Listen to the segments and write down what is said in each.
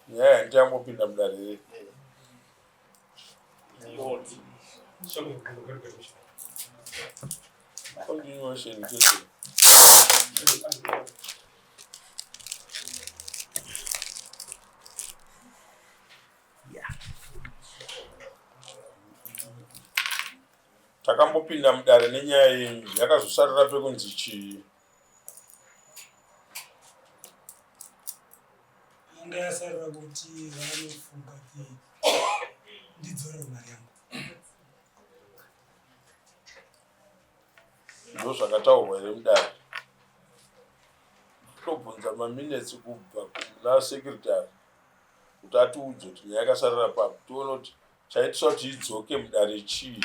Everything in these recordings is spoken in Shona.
Nyaya yange yangopinda mudare here? Continuation chete. Takambopinda mudare nenyaya yenyu yakazosarira pekunzi chii? Anga yasarira kuti vanofunga kuti ndidzore mari yangu. Ndizvo zvakataurwa here mudare? Tobvunza maminetsi kubva kuna sekretari kuti atiudze kuti nyaya yakasarira papi tione kuti chaitiswa kuti idzoke mudare chii.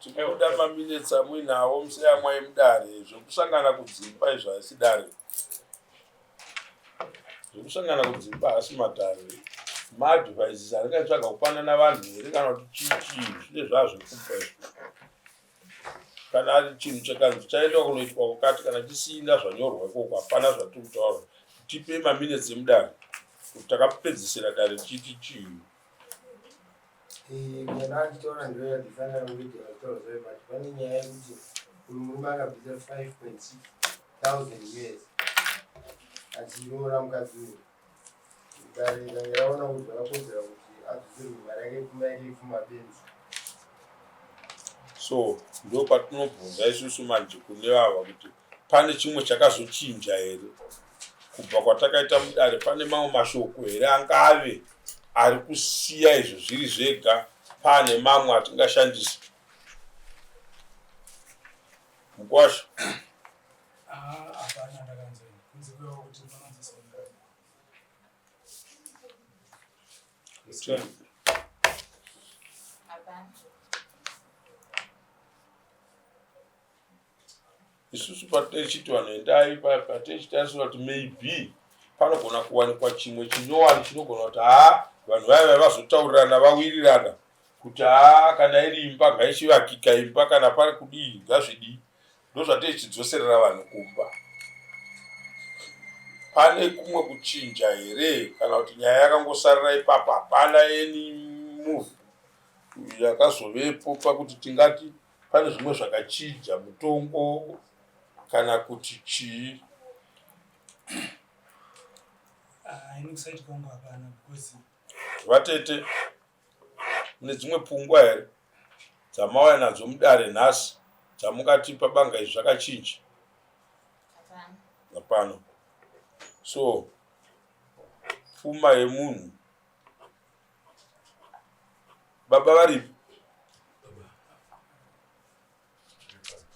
tikuda maminetsi amuinawo museyamwai mudare zvekusangana kudzimba izvo haisi dare zvekusangana kudzimba haasi madare maadvises aringatsvaga kupanana vanhu here kana kuti chichii zvine zvazvekupa izvo kana ari chinhu chakanzi chaendwa kunoitwa kukati kana chisina zvanyorwa ikoko hapana zvatiri kutaura tipe maminutes emudare kuti takapedzisira dare tichiti chii so ndo patinobvunza isusu manje kune vava kuti pane chimwe chakazochinja here kubva kwatakaita mudare pane mamwe mashoko here angave ari kusiya izvo zviri zvega pane mamwe atingashandisa mukwasha isusu patechiti vanhu endai patechiti taisoa kuti maybe panogona kuwanikwa chimwe chinyowani chinogona kuti haa vanhu vaya vaya vazotaurirana vawirirana kuti haa kana iri imba ngaisivakika imba kana pari kudii ngazvidii Ndozvatei chidzoserera vanhu kumba. Pane kumwe kuchinja here kana kuti nyaya yakangosarira ipapo hapana any move yakazovepo pakuti tingati pane zvimwe zvakachinja mutongo kana kuti chii? Ah, ini kusati kwangu hapana because Vatete Mune dzimwe pfungwa here dzamauya nadzo mudare nhasi dzamungati pabanga izvi zvakachinja? Hapana. So pfuma yemunhu baba varipi?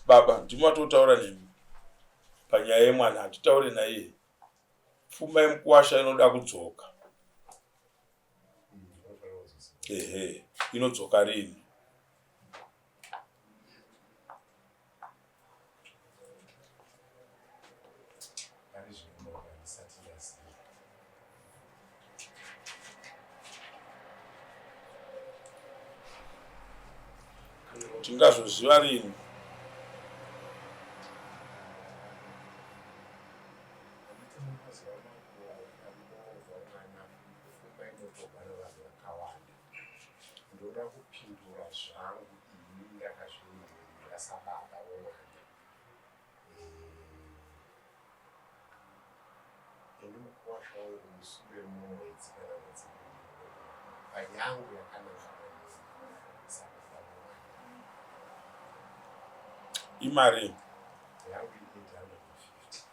Baba ndimo atotaura nemi panyaya yemwana hatitaure naiye. Pfuma yemukuwasha inoda kudzoka. ehe inodzoka rini tingazvoziva rini Pfungwa inotobva nevanhu vakawanda. Ndoda kupindura zvangu ini ndakazvimirira sababa vomwana. Eh, ini mukuwasha wangu musure mumwedzi kana mwedzi panyangu yakanaka maningi sababa vomwana. Imari yangu ine 850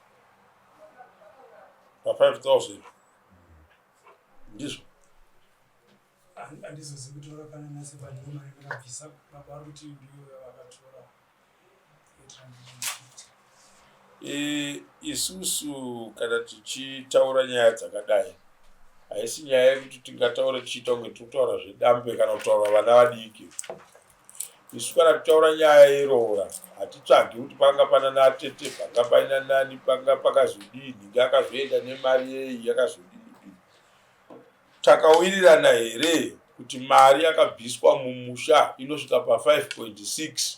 pa 5000 ndizvo andizozi kutora kana nase padoma ndakabvisa baba ari kuti ndiyo yavakatora e, isusu kana tichitaura nyaya dzakadai haisi nyaya yekuti tingataura tichiita kunge tiri kutaura zvedambe kana kutaura vana vadiki Isu kana tichitaura nyaya yeroora hatitsvagi kuti panga pana natete panga paina nani panga pakazodii nhingi akazoenda nemari yei yakazodii dii takawirirana here kuti mari yakabviswa mumusha inosvika pa 5.6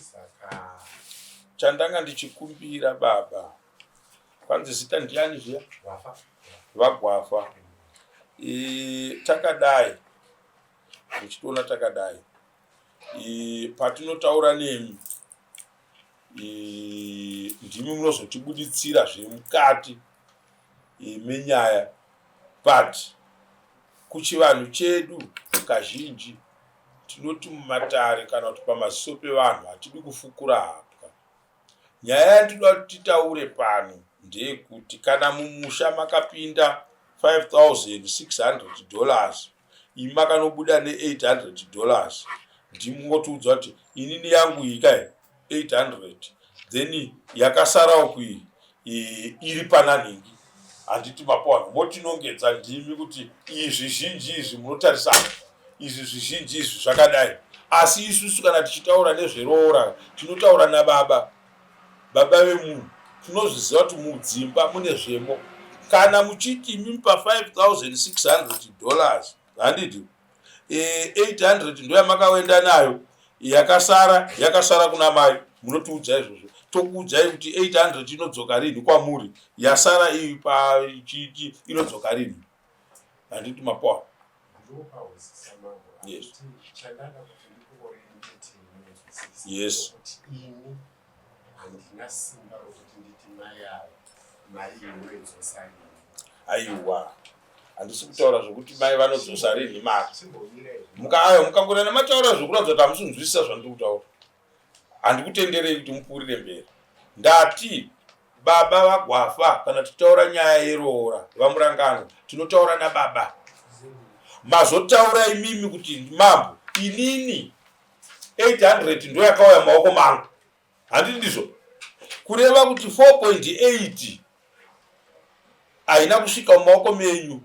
Saka chandanga ndichikumbira baba, kwanzi zita ndiani zviya? Gwafa. VaGwafa. E, takadai ndichitoona takadai e, patinotaura nemi e, ndimi munozotibuditsira zviri mukati menyaya but kuchivanhu chedu kazhinji tinoti mumatare kana kuti pamaziso pevanhu hatidi kufukura hapwa nyaya yandinoda kuti titaure pano ndeyekuti kana mumusha makapinda 5600 dollars imi makanobuda ne 800 dollars ndimotiudza kuti inini yangu iyi kai 800 then yakasarawo kuii iri pananhingi handiti mapoano motinongedza ndimi kuti izvi zhinji izvi munotarisana izvi zvizhinji izvi zvakadai asi isusu kana tichitaura nezveroora tinotaura nababa Baba vemunhu tinozviziva kuti mudzimba mune zvemo. Kana muchiti imi pa 5600 dollars handiti eh, 800 ndoyamakawenda nayo yakasara yakasara kuna mai munotiudza izvozvo tokuudzai kuti 800 inodzoka rinhi kwamuri yasara iyi pachiti inodzoka rinhi handiti mapoa yes yes aiwa handisi kutaura zvokuti mai vanodzosa rinhi mari mukaayo mukangona mataura zvokuratidza kuti hamusinzwisisa zvandiri kutaura handikutenderei kuti mupfuurire mberi ndati baba vagwafa kana tichitaura nyaya yeroora vamurangano tinotaura nababa mazotaura imimi kuti mambo inini 800 ndo yakauya maoko mangu handiti ndizvo kureva kuti 4.8 haina kusvika mumaoko menyu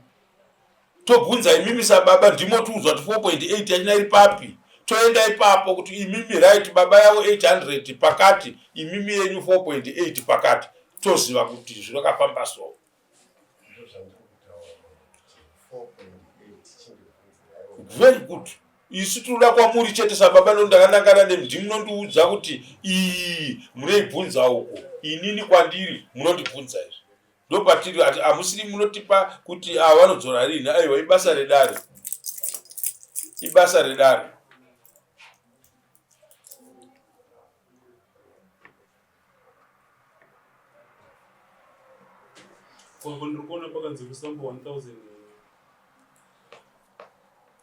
tobvunza imimi sababa ndimo tiudzwa kuti 4.8 yachina iri papi toenda ipapo kuti imimi right baba yavo 800 pakati imimi yenyu 4.8 pakati toziva kuti zvinokafamba so very good isu tinoda kwamuri chete sababa no ndakanangana nemi ndimunondiudza kuti iyi munoibvunza uko inini kwandiri munondibvunza izvi ndopatiri ati hamusiri munotipa kuti ava ah, vanodzora rini aiwa ibasa redare ibasa redare kwambo ndiri kuona pakanzi kusambo 1000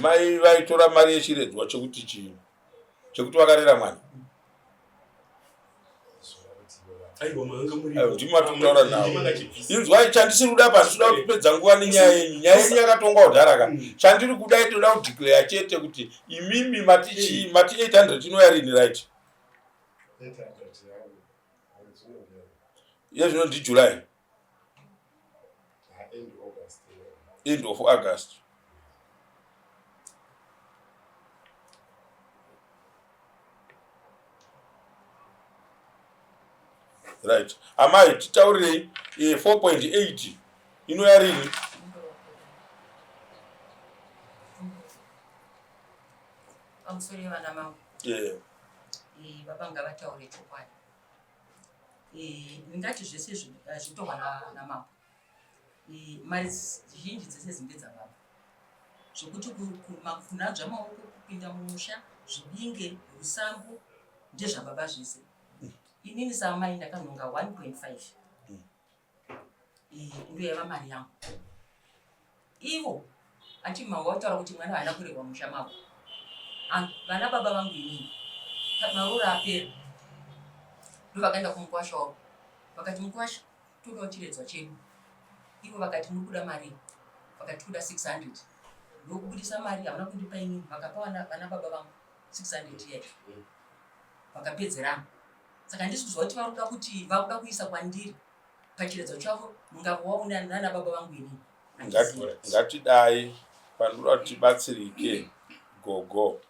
mai vaitora mari yechiredzwa chekuti chii chekuti vakarera mwana ndimo atikutaura navo inzwai chandisiri kuda pasi toda kutipedza nguva nenyaya yenyu nyaya yenyu yakatongwa kudhara ka mm. chandiri kuda itoda kudeclare chete kuti imimi mati chii mati 800 inoyarini right iye zvino ndijuly end of august right amai titaurirei 4.8 eh, inoyarini I'm sorry, Madam. Yeah. eh, baba ngavataure chokwadi eh, ndingati zvese eh, zvitorwa namambo mari zhinji dzese dzinge dzababa zvekuti makufuna dzvamaoko kupinda mumusha zvibinge rusambo ndezvababa zvese inini saamai ndakanhonga 1.5 iyi ndiyo yava mari yangu ivo ati mama wataura kuti mwana haana kurerwa musha mavo ah, vana baba vangu inini maroora apera ndovakaenda kumukwasha wavo vakati mukwasha todawo chiredzwa chedu ivo vakati muri kuda mari vakati kuda 600 ndokubudisa mari havana kundipa inini vakapa vana baba vangu 600 yacho vakapedzerana saka handisi kuziva kuti vakuda kuti vakuda kuisa kwandiri pachiredzo chavo mungavo wavo nana baba vangu ini ngatidai panoda kuti tibatsirike gogo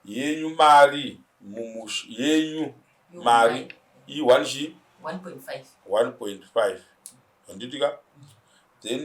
yenyu mari mumush yenyu mari iyi one chi 1.5 handitika then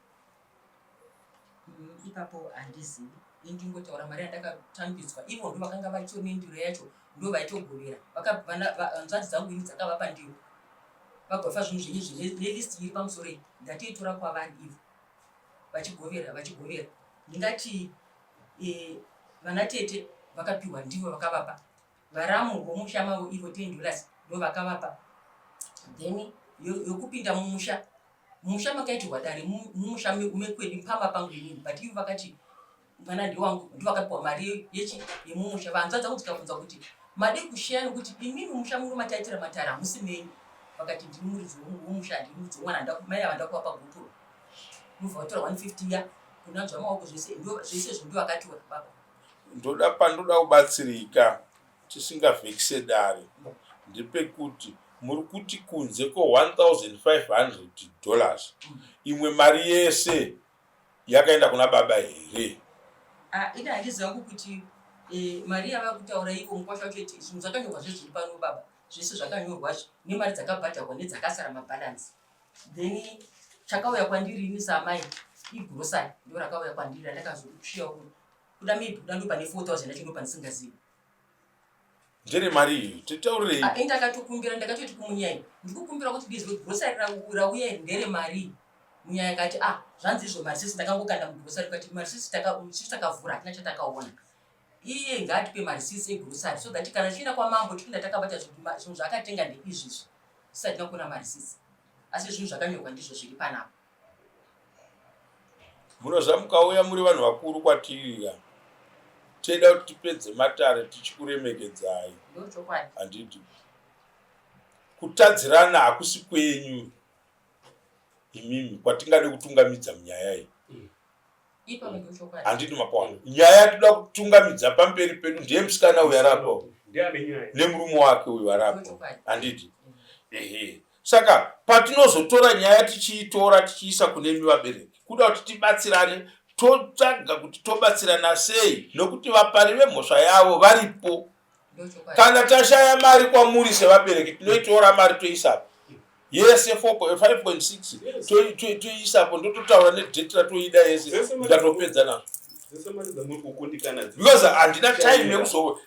ipapo handizivi indingotaura mari yandakatambidzwa ivo ndo vakanga vachiona ndiro yacho ndo vaitogovera nzvanzi dzangu ini dzakavapa ndiro vagofa zvinhu zvenyu zve nelist iri pamusoro iyi ndatiitora kwavani ivo vachigovera vachigovera ndingati e, vana tete vakapiwa ndivo vakavapa varamu vomusha mavo ivo ten dollars ndo vakavapa then yokupinda mumusha musha makaitirwa dare mumusha mekwedu mpama pangu inini but ivo vakati mwana ndewangu ndivakapiwa mari yechi yemumusha vanzwa dzangu dzikabvunza kuti made kusheya nokuti imimi musha muno mataitira matara hamusi menyu vakati ndiri muridzi womusha handiri muridzi womwana mai ava ndakuva pagupuro mubva vatora 150 ya kunanzwa maoko zvese zvese zvindu vakatiwa baba ndoda pandoda kubatsirika Chisingavhekise dare ndepekuti muri kuti kunze kwe 1500 dollars imwe mari yese yakaenda kuna baba here? Ah, ini handiziva hangu kuti eh, mari yava kutaura iko mukwasha wacho iti zvinhu zvakanyorwa zve zviri pano baba zvese zvakanyorwa zve nemari dzakabhadharwa nedzakasara mabalansi then chakauya kwandiri ini samai igrosari ndo rakauya kwandiri randakazokuchiya kuda maybe kuda ndo pane 4000 yacho ndo pandisingazivi ndere mari iyi titaurirei ah, ndakatokumbira ndakatoti kumunyai ndikukumbira kuti bizwe grosari rauya iri ndere mari munyaya kati a ah, zvanzi izvo marisisi ndakangokanda mugrosari kati marisisi takavhura hatina chatakaona iye ngaatipe marisisi egrosari so that kana tichienda kwamambo tichienda takabata zvinhu zvaakatenga ndeizvizvi tisati takuona marisisi asi zvinhu zvakanyorwa ndizvo zviri panapa Munozva mukauya muri vanhu vakuru kwatiri ya tichida kuti tipedze matare tichikuremekedzai handidi kutadzirana hakusi kwenyu imimi kwatingade kutungamidza munyaya iyi mm. handidi mapawana nyaya yatida kutungamidza pamberi pedu ndiye musikana uyu arapo nemurume wake uyu arapo handidi mm. ehe Saka patinozotora nyaya tichiitora tichiisa kunemi vabereki kuda kuti tibatsirane totsvaga kuti tobatsirana sei nokuti vapari vemhosva yavo varipo. Kana tashaya mari kwamuri sevabereki tinoitora mari toisapo yese 5.6 toisapo ndototaura nedate ratoida yese ndatopedza nazvo because handina time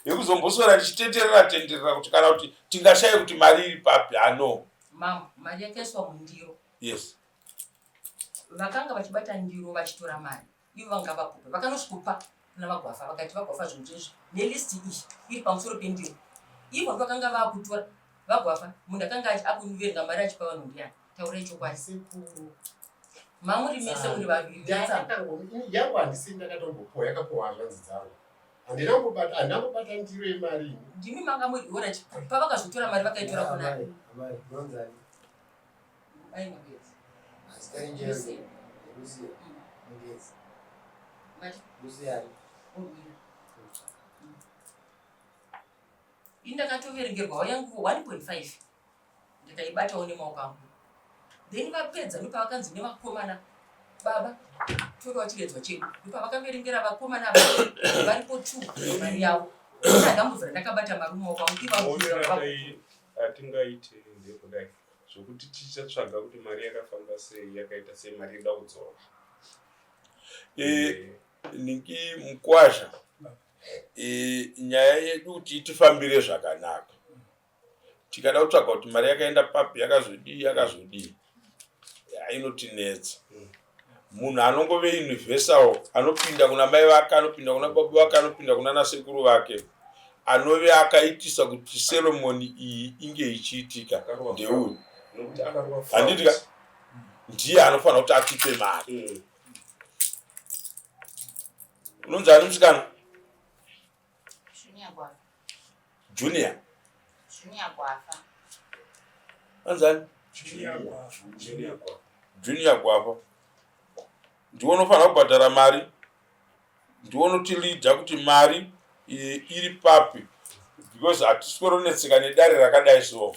yekuzomboswera ndichitenderera tenderera kuti kana kuti Tingashaye kuti mari iri papi ano. Mambo, mari yakaiswa mundiro. Yes. Vakanga vachibata ndiro vachitora mari. Ivo vanga vakupa. Vakanosvikupa kuna vagwafa vakati vagwafa zvinhu zvizvi nelist iyi iri pamusoro pendiro. Ivo vakanga vakutora vagwafa munhu akanga akuverenga mari achipa vanhu ndiyani. Taura ichokwadi. Sekuru. Mamuri mese muri vaviri. Yangu handisi ndakatombopora yakapowa zvanzi dzangu. handina kubata handina kubata ndiro yemari ndimi manga muiona pavakazotora mari vakaitora kuna ini ndakatoverengerwawo yangu 1.5 ndikaibatawo nemaoko angu then vapedza ndopavakanzi nevakomana baba torawo chiredzwa chedu ndopavakaverengera vakomana ava varipo t mari yavo ndadambudzo randakabata mari mumaoko angu ivatingaite eh, ndekudai zvokuti tichatsvaga kuti mari yakafamba sei yakaita sei mari yekuda kudzora eh, niki mukwasha eh, nyaya yedu kuti itifambire zvakanaka tikada kutsvaga kuti mari yakaenda papi yakazodii yakazodii inotinetsa mm. munhu anongove universal anopinda kuna mai vake anopinda kuna baba vake anopinda kuna nasekuru vake anove akaitisa kuti seromoni iyi inge ichiitika ndeuyu handiti ndiye anofanira kuti atipe mari mm. unonzi ani musikana Junior Gwafa. Junior. Junior Gwafa. Anzani? Junior Gwafa. Junior Gwafa. Junior Gwafa. Ndiwe unofanira kubhadhara mari. Ndiwe unotilidha kuti mari iri papi because hatiswero netsika nedare rakadai so.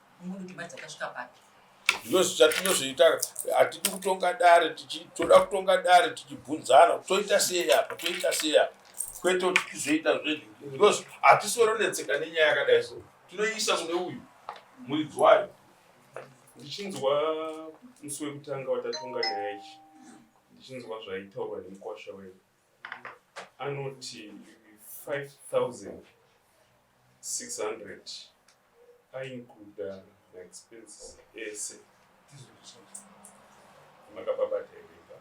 zvatinozviita hatidi kutonga dare toda kutonga dare tichibvunzana toita sei apa toita sei apa kwete kuti tizoita zvezvi hatisoronetseka nenyaya yakadai so tinoiisa kune uyu muridzi wayo ndichinzwa musi wekutanga watatonga nyaya ichi ndichinzwa zvaitaurwa nemukwasha wedu anoti 5600 aincluda maexpenses ese makababata irimba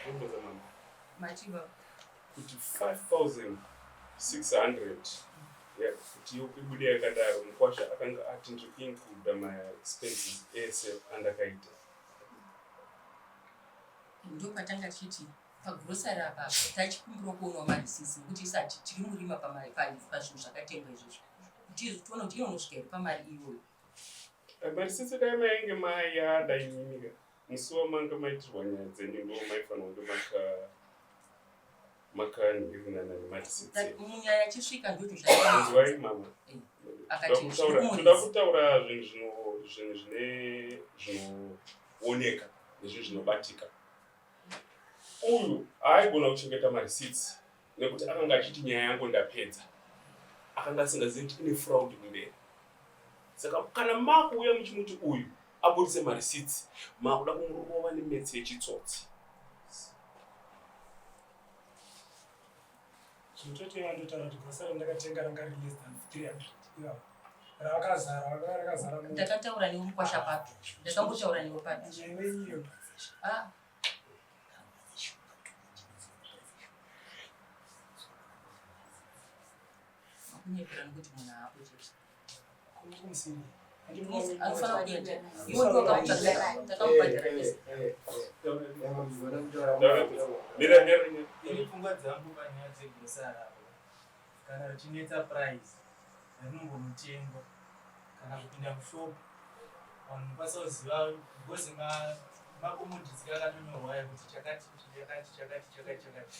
omboza mama machiva kuti 5600 kuti ibude yakadaro mukwasha akanga ati ndiri kuincluda maexpenses ese andakaita ndopatanga tichiti pagrosari apa tachikumbira kuonwa marisisi nekuti isati tiri murima pazvinhu zvakatengwa izvozvo kuti tiona kuti inonosvika iri pamari iyoyo eh, marisisi dai mainge mayada imimika musi wamanga maitirwa nyaya dzenyu ndo maifanira kunge maka makani ndikunana nematisetsi munyaya chisvika ndoto zvaizwai mama eh, akatitoda kutaura zvinhu zvinhu zvine zvinooneka nezvinhu zvinobatika uyu aaigona kuchengeta marisits nekuti akanga achiti nyaya yangu ndapedza akanga asingazivi kuti ine fraud kumberi saka kana makuuya muchimuti uyu abudise marisitsi makuda kumurova nemetsi yechitsotsi zvinotoita iva ndotaura kuti gwasa randakatenga ranga ri less than 300 ravakazara vanga rakazara ndakataura newe mukwasha papi ndakambotaura newe papi newe iyo ah. kunyepera nekuti munhu aakuchete pfungwa dzangu panyaya dzegosara kana richinetsa price rinongomutengo kana kupinda mushopu vanhu mukwanisa kuziva because makomoditsi akatonyorwa aya kuti chakati chakati chakati chakati chakati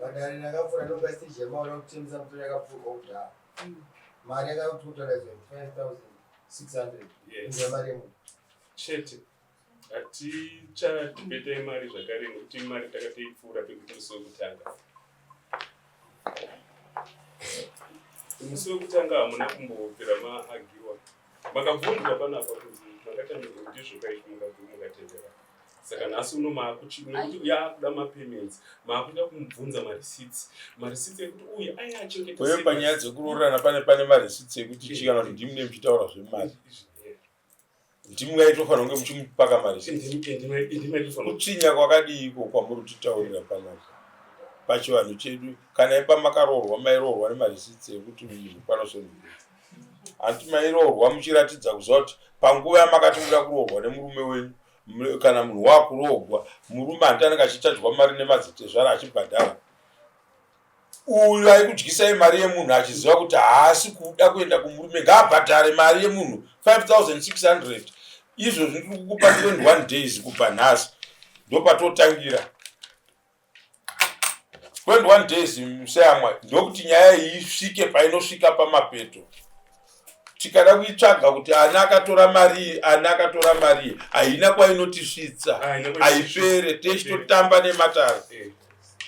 Madare ndakapfura ndopaistage yemaona kuti timu dzangu tori yakapfurwa kudhaa. Mari yakakuti kutoraidzwa 5600. Inzwa mari yemunhu. Chete. Hatichadhibeta imari zvakare nekuti imari takatoipfuura pekuti musi wekutanga. Musi wekutanga hamuna kumbopera maagiwa. makabvunzwa panapa kuti makatanirwa kuti zvokaiti mukatendera saka nhasi uno maakuti yaakuda mapayments maakuda kumubvunza mareceipts mareceipts ekuti uye aya achengeteuye panyaya dzekuroorana pane pane mareceipts ekuti chi kana kuti ndimi ne muchitaura zvemari ndimi ngaitofanira kunge muchimupaka mareceiptskutsinha kwakadii iko kwamuri kutitaurira panapa pachivanhu chedu kana ipamakaroorwa mairoorwa nemareceipts ekuti munhu panosonoa hanti mairoorwa muchiratidza kuziva kuti panguva yamakati muda kuroorwa nemurume wenyu kana munhu waakuroogwa murume hanti anenge achitadzwa mari nemadzitezvara achibhadhara uyu aikudyisai mari yemunhu achiziva kuti haasi kuda kuenda kumurume ngaabhadhare mari yemunhu 5600 izvo zviri kukupa 21 days kubva nhasi ndopatotangira 21 days museyamwa ndokuti nyaya iyi isvike painosvika pamapeto tikada kuitsvaga kuti ani akatora marii ani akatora marii haina kwainotisvitsa haipere teichitotamba nematare eh.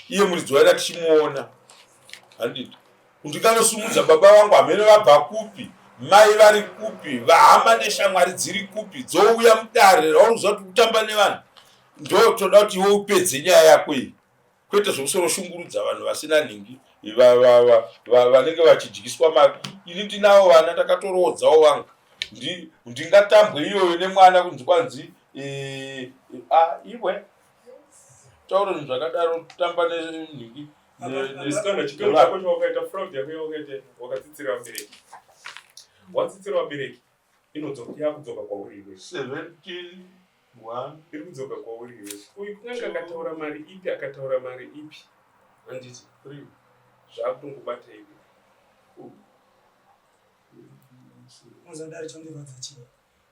iye muridzi waida tichimuona handiti kuti kanosimudza baba vangu hamene vabva kupi mai vari kupi vahama neshamwari dziri kupi dzouya mudare rauri kuziva kuti kutamba nevanhu ndo toda kuti iwe upedze nyaya yako iyi kwete zvekusoro shungurudza vanhu vasina nhingi vanenge vachidyiswa mari ini ndinawo vana ndakatoroodzawo vangu ndingatambwe iyoyo nemwana kunzi kwanzi e, iwe taura zvinhu zvakadaro tamba nenhingi watsitsira vabereki inodzoka yakudzoka kwauri iwe One. Iri kudzoka kwauri iwe. Uyu kunenge akataura mari ipi akataura mari ipi. Handiti. Three. Zvakutongobata iwe. Four. Muzodari chondirwadza chii.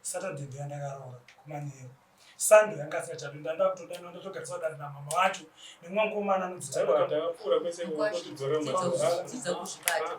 Saturday ndiya ndakaroora kumanheru. Sunday yanga asati chapinda ndakutodanwa ndatogariswa dare namama wacho nemwangu omana anodzitaura. Takapfuura kwese kuti dzora madzora. Dzidza kuzvibata.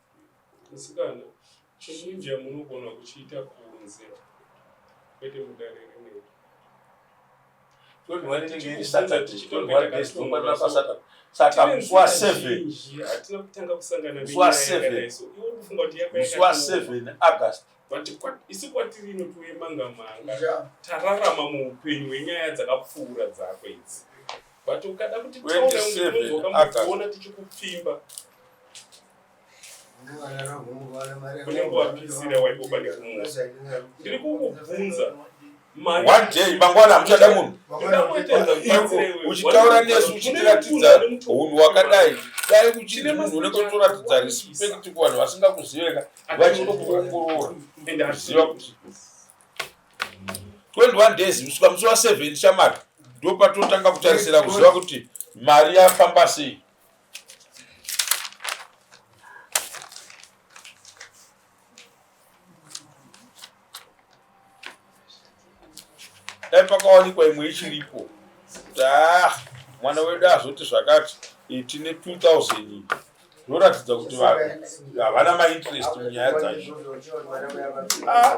Musikana, chekuindia munogona kuchiita kunze kwete mudare rinei. Saka musi wa seven, musi wa seven August but isu kwatiri ino tiwe manga manga yeah. tararama muupenyu hwenyaya dzakapfuura dzako idzi but ukada kuti tauraungeokamboona tichikupfimba kune nguva pisira waiboba nekumuwa ndiri kukubvunza one day mangwana hamuchada munhu uchitaura nesu uchitiratidza unhu wakadai dai uchiti munhu unenge utoratidza respect kuvanhu vasingakuziveka vachinokuongorora ende aziva kuti 21 days kusvika musi wa 7 shamari ndo patotanga kutarisira kuziva kuti mari yafamba sei dai pakawanikwa imwe ichiripo taa ah, mwana wedu azoti zvakati eh, tine 2000 zvoratidza kuti vanhu havana mainterest munyaya dzacho ah.